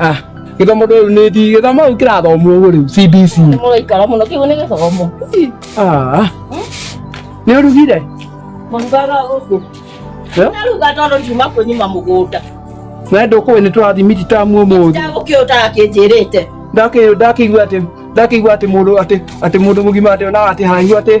Ah, gĩthomo rĩu nĩ ndi gĩthomo rĩu kĩrathomwo ũguo rĩu CBC. Nĩ mũraikara mũno kĩu nĩ gĩthomo. Ah. Nĩ ũrugire? Mũrugaga gũkũ. Eh? Naruga tondũ ndiuma kwĩnyima mũgũnda. Na ndũkũĩ nĩ tũrathimiti tamu ũmũthĩ. Ndagũkĩũtaga kĩnjĩrĩte. Ndakĩ ndakĩigua atĩ ndakĩigua atĩ mũndũ atĩ atĩ mũndũ mũgima atĩ onaga atĩ haraihu atĩ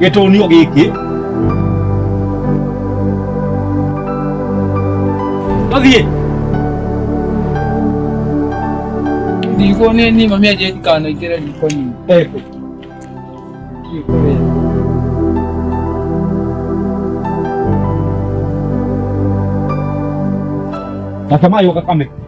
gĩtũnio gĩkĩ tũthiĩ Ndiko nĩ niĩ mami anjĩra ndikanaingĩre riko-inĩ. Eko. Riko rĩrĩ. Natamani ukakame.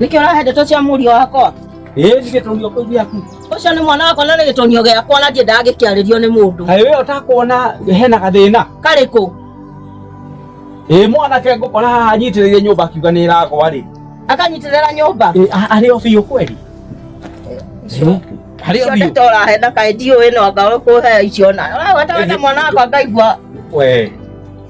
Nĩkĩ ũrahe ndeto cia mũriũ wakwa? Ĩĩ nĩ gĩtonio kĩu gĩaku. Ũcio nĩ mwana wakwa na nĩ gĩtonio gĩakwa na ndiendaga gĩkĩarĩrio nĩ mũndũ. Kaĩ wee ũtakuona hena gathĩna? Karĩkũ? Ĩĩ mwanake ngũkora haha anyitĩrĩire nyũmba akiuga nĩ ĩragwa rĩ. Akanyitĩrĩra nyũmba? Ĩĩ a- arĩ o biũ kweli? Ĩĩ, Arĩ o Icio biũ. ndeto ũrahe na kaĩ ndiũĩ no anga ũkũhe icio na. Ũragweta wena mwana wakwa ngaigua Wee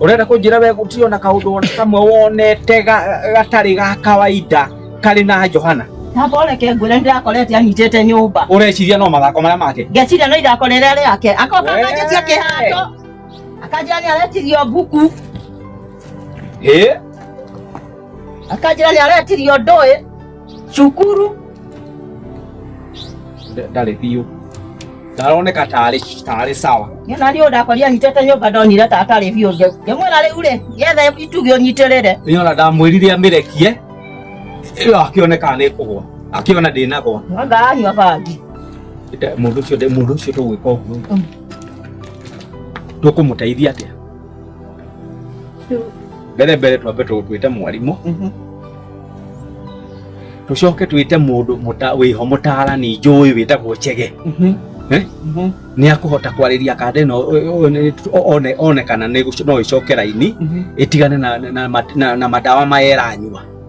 urenda kunjira we gutio na kaundu ona kamwe wonete ga- gatari ga kawaida kari na johana Tamba ureke ngwĩre nĩ ndĩrakorete anyitĩte nyũmba. ureciria no mathako maria make Ngeciria no irakorere arĩa ake. Akoka Wee. akanjĩtia kĩhato. Akanjĩra nĩ aretirio mbuku. Hĩ? Akanjĩra nĩ aretirio ndũĩ. cukuru ndarĩ biũ ndaroneka tarĩ tarĩ sawa Niona rĩu ndakoria nyitĩte nyũmba ndonire ta atarĩ biũ ngĩ- ngĩmwĩra rĩu rĩ yethe itugĩ ũnyitĩrĩre nĩona ndamwĩrire amĩrekie ĩyo akĩone kana nĩ kũgwa akĩona ndĩnagwa mwanga anyua bangi Nda- mũndũ ũcio ndĩ- mũndũ ũcio tũgwĩka ũguo tũkũmũteithia atĩa mbere mbere twambe twĩte mwarimũ mhm. tũcoke twĩte mũndũ wĩho mũtaarani njũĩ wĩtagwo chege mhm. eh? mhm. nĩ akũhota kwarĩria kanda ĩno one kana no ĩcoke raini ĩtigane na madawa maya ĩranyua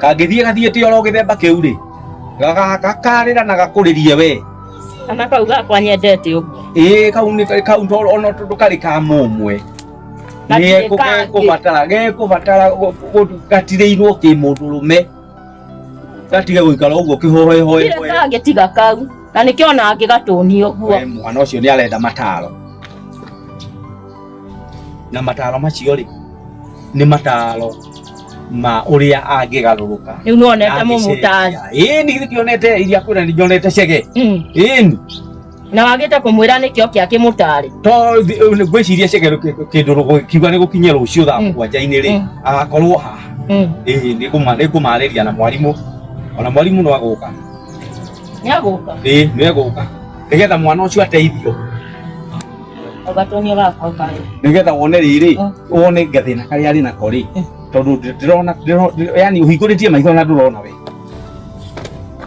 kangĩthiĩ gathiĩte oro gĩthemba kĩu rĩ gagakarĩra na gakũrĩrie we kana kau gakwa nyendete ũguo ĩĩ kau nĩ kau to ona tondũ karĩ ka mũmwe Na ndirĩ kangĩ. gekũbatara gekũbatara gũ- gũ- gatirĩirwo kĩ mũndũ rũme gatige gũikara ũguo kĩhohehoe kire kangĩ tiga kau na nĩkĩo ona angĩgatũni ũguo mwana ũcio nĩ arenda mataro na mataro macio rĩ nĩ mataro ma ũrĩa angĩgarũrũka rä u nä wonete må må tari ĩni githĩ ndionete iria kwĩra ndionete cege ĩni na wagä te kå mwä ra nä kä o kä akä må tarä to ngwĩciria cege kĩndũ rũgũ- kiuga nĩ gũkinya rũciũ thaa Mm. mũgwanja-inĩ rĩ Mm. agakorwo haha ĩĩ nĩ ngũma- nĩ ngũmarĩria na mwarimũ ona mwarimũ no agũka nä agå ka ĩĩ nĩ egũka nĩgetha mwana ũcio ateithio ũgatonio gakwa ũkarĩa nigetha wone rĩrĩ Mm. wone gathĩna karĩa arĩ nako rĩ Mm. tondũ ndĩ- ndĩrona ndĩro- ndĩ- yani ũhingũrĩtie maitho na ndũrona we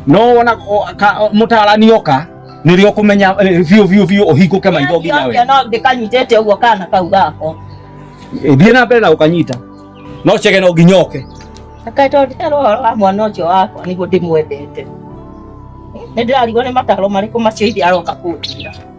no wona o- ka- o- mũtaarani oka nĩrĩo kũmenya eh, biũ biũ biũ ũhingũke maitho nginya we Ndio, no ndĩkanyitĩte ũguo kana kau gako Eh, thiĩ na mbere na ũkanyita no cege no nginya oke Kaĩ tondũ ndĩrarwo ũhoro wa mwana ũcio wakwa nĩguo ndĩmwendete nĩ ndĩrarigwo nĩ mataro marĩkũ macio ithe aroka kũnjĩra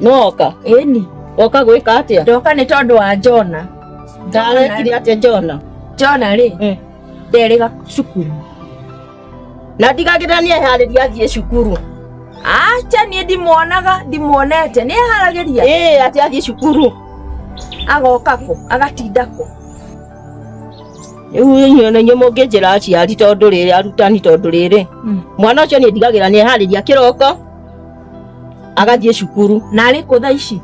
nwoka ĩni woka gwĩka atĩa ndoka nĩ tondũ wa Jona ndarekire atĩa Jona Jona rĩ mm. nderĩga cukuru na ndigagĩra nĩ eharĩria athiĩ cukuru acha niĩ ndimuonaga ndimuonete nĩ eharagĩria ĩĩ atĩ athiĩ cukuru agoka kũ agatinda kũ inyuĩ na inyuĩ mũngĩnjĩra aciari tondũ rĩrĩ arutani tondũ rĩrĩ mm. mwana ũcio nĩ ndigagĩra nĩ eharĩria kĩroko agathiĩ cukuru na arĩ kũ thaa ici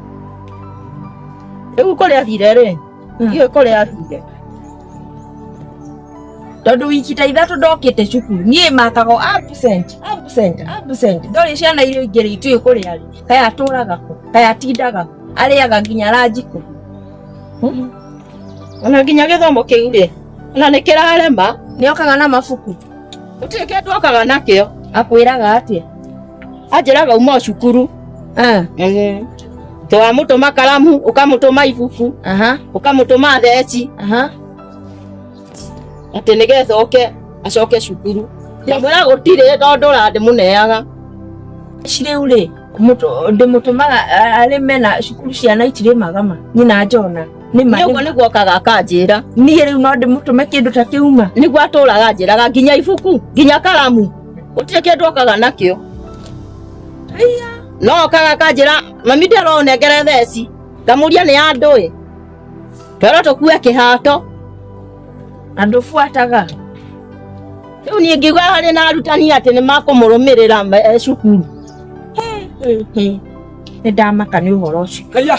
rĩu kũrĩa thire rĩ iwe kũrĩa thire tondũ wiki ta ithatũ ndokĩte cukuru niĩ makago absent absent absent ndorĩ ciana iria ingĩ rĩ itiũĩ kũrĩa rĩ kaya atũraga kũ kaya atindaga kũ arĩaga nginya ranji kũ ona nginya gĩthomo kĩu rĩ ona nĩ kĩrarema nĩokaga na mabuku Gũtirĩ kĩndũ okaga nakĩo. Akwĩraga atĩa? Anjĩraga uma o cukuru. Ah. Eh. To wamũtũma karamu, ũkamũtũma ibuku, Aha. ũkamũtũma theci, Aha. atĩ nĩgetha oke acoke cukuru. Ndamwĩra gũtirĩ tondũ ũrandĩ mũneaga. Cirĩu rĩ, mũtũ- ndĩmũtũmaga a- arĩme na cukuru ciana itirĩmaga ma nyina njona nĩ ma ũguo nĩguo okaga akanjĩra niĩ rĩu no ndĩmũtũme kĩndũ ta kĩuma nĩguo atũraga anjĩraga nginya ibuku nginya karamu gũtirĩ kĩndũ okaga nakĩo no okaga akanjĩra mami ndĩronengere theci ngamũria nĩ ya ndũĩ twero tũkue kĩhato andũ buataga rĩu niĩ ngiuga harĩ na arutani atĩ nĩ makũmũrũmĩrĩra me- cukuru nĩ ndamaka nĩ ũhoro ũcio Haya.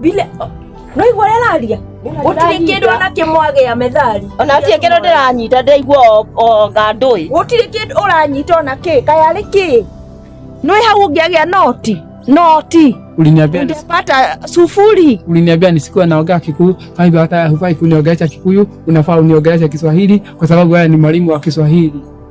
Bile no igwa ũrĩa araria gũtirĩ kĩndũ ona kĩmwagĩa methari ona atie kĩndũ ndĩranyita ndĩraigua o- o ngandũĩ gũtirĩ kĩndũ ũranyita ona kĩ kaya arĩ kĩ nĩ hau ũngĩagĩa noti noti Uliniambia nisi- ndepata sufuri uliniambia nisikuwa naongea Kikuyu, kwa hivyo hata hufai kuniongelesha Kikuyu, unafaa uniongeleshe Kiswahili kwa sababu wewe ni mwalimu wa Kiswahili.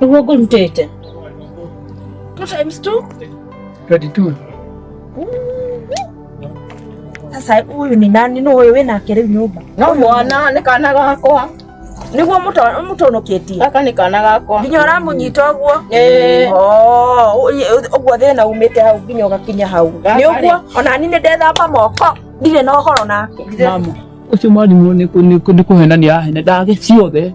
Uko gold mtete. Two times two? 22. Sasa huyu ni nani no wewe na kere nyumba? No mwana ni kana gakwa. Niguo muto mutonoketie. Gaka ni kana gakwa. Nginya uramunyita uguo? Eh. Oh, uguo thina umite hau nginya ugakinya hau. Ni uguo ona ni ndethamba moko. Ndire na horo nake. Mama. Ucio mwarimu ni kuhenania hene ndage ciothe.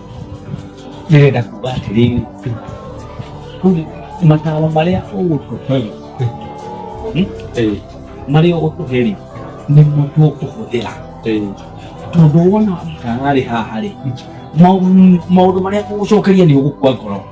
ndirenda kuga atĩrĩ mataro marĩa ũgũtũhe marĩa ũgũtũhe rĩ nĩmo tũkũhũthĩra tondũ wona ũtararĩ haha rĩ maũndũ marĩa ũgũcokeria nĩ ũgũkua ngoro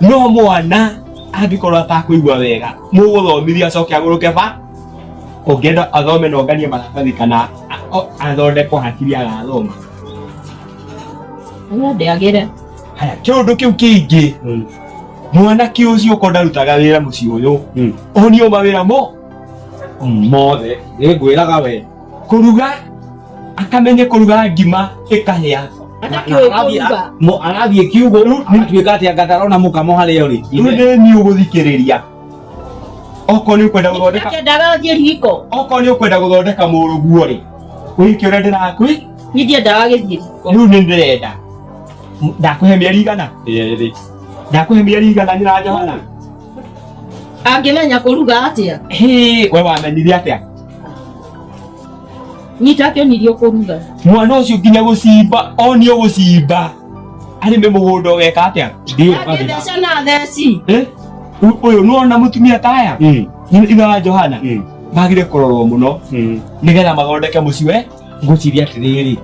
no mwana angĩkorwo atakũigua wega mũgũthomithia acoke agũrũke ba ũngĩenda athome na onganie maratathi kana a- o- athondekwo hakiri agathoma Ũrĩa ndĩagĩre. haya kĩũndũ kĩu kĩingĩ mwanake ũcio ũkorwo ndarutaga wĩra mũciĩ ũyũ onio mawĩra mo mothe nĩngwĩraga we kũruga akamenye kũruga ngima ĩkahĩa arathiĩ kiugũ atuĩka atĩ anga ndarona mũkamo harĩa ũrĩ rĩu nĩ niĩ ũgũthikĩrĩria okorwo nĩ ũkwenda gũthondeka okorwo nĩ ũkwenda gũthondeka mũrũguo rĩ wĩke ũrĩa ndĩrakwĩ rĩu nĩ ndĩrenda ndakũhe mĩeri igana ndakũhe mĩeri igana nyina Johana Angĩmenya kũruga atĩa? Hĩ, we wamenyire atĩa? Nyita akĩonirio kũruga. Mwana ũcio nginya gũcimba, onio gũcimba. Arĩ nĩ mũgũnda ũgeka atĩa? Ndio baba. Angĩtheca na theci. Eh? Ũ- Ũyũ nĩwona mũtumia ta aya? Mm. Ithe wa Johana? Mm. Magire kũrorwo mũno Mm. nĩgetha mathondeke mũciĩ we. Ngwĩciria atĩrĩrĩ.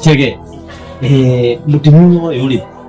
Chege. Eh, mũtumia ũyũ rĩ,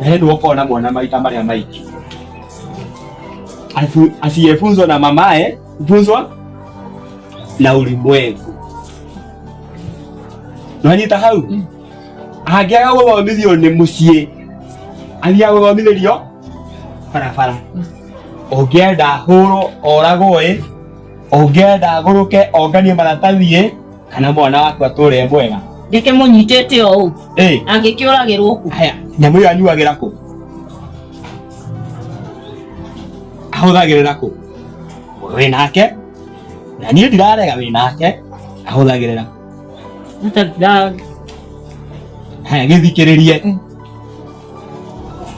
naye nduoka ona mwana maita maria maiki Afu- asiyefunzwa na mamaye funzwa na ulimwengu nwanyita hau angĩaga gũthomithio nĩ mũciĩ athiaga gũthomithĩrio barabara ũngĩenda hũrwo oragwo ĩ ũngĩenda agũrũke onganie maratathi ĩ kana mwana wakwa tũre mwega ndĩke mũnyitĩte ũũ angĩkĩũragĩrwo ku haya nyamũ ĩyo anyuagĩra kũ ahũthagĩrĩra kũ wĩ nake na niĩ ndirarega wĩ nake ahũthagĩrĩra haya gĩthikĩrĩrie mm.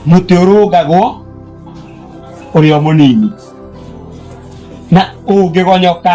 mũtĩ ũrũngagwo ũrĩa mũnini na ũngĩgonyoka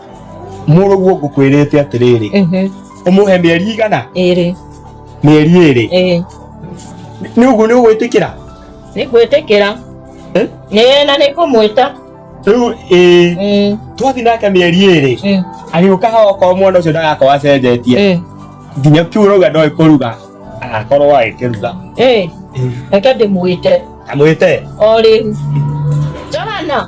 mũrũguo ngũkwĩrĩte atĩrĩrĩ Mhm. ũmũhe mĩeri igana ĩrĩ mĩeri ĩrĩ ĩĩ nĩ ũguo nĩ ũgwĩtĩkĩra nĩ gwĩtĩkĩra Eh? nĩ na nĩ kũmwĩta rĩu ĩĩ Mm, twathi nake mĩeri ĩrĩ mm, agĩũka hau okorwo mwana ũcio ndagakorwo acenjetie ĩĩ, nginya kiu ũrauga ndoĩ kũruga agakorwo agĩkĩruga ĩĩ. reke ndĩmwĩte amwĩte o rĩu johana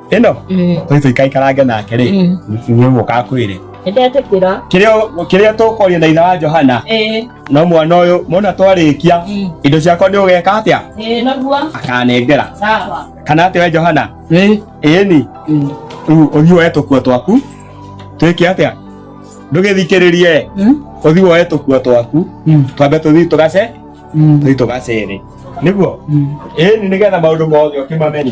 ĩno tũitũ ikaikarange nake rĩ nĩguo kakwĩre nĩndetĩkĩra kĩrĩa tũkwaria na itha wa johana no mwana ũyũ mona twarĩkia indo ciakwa nĩ ũgeka atĩa akanengera kana atĩ we johana ĩni rĩu ũthiĩ woe tũkuo twaku twĩke atĩa ndũgĩthikĩrĩrie ũthiĩ woe tũkuo twaku twambe tũthiĩ tũgace tũthiĩ tũgacere nĩguo ĩni nĩgetha maũndũ mothe ũkĩmamenye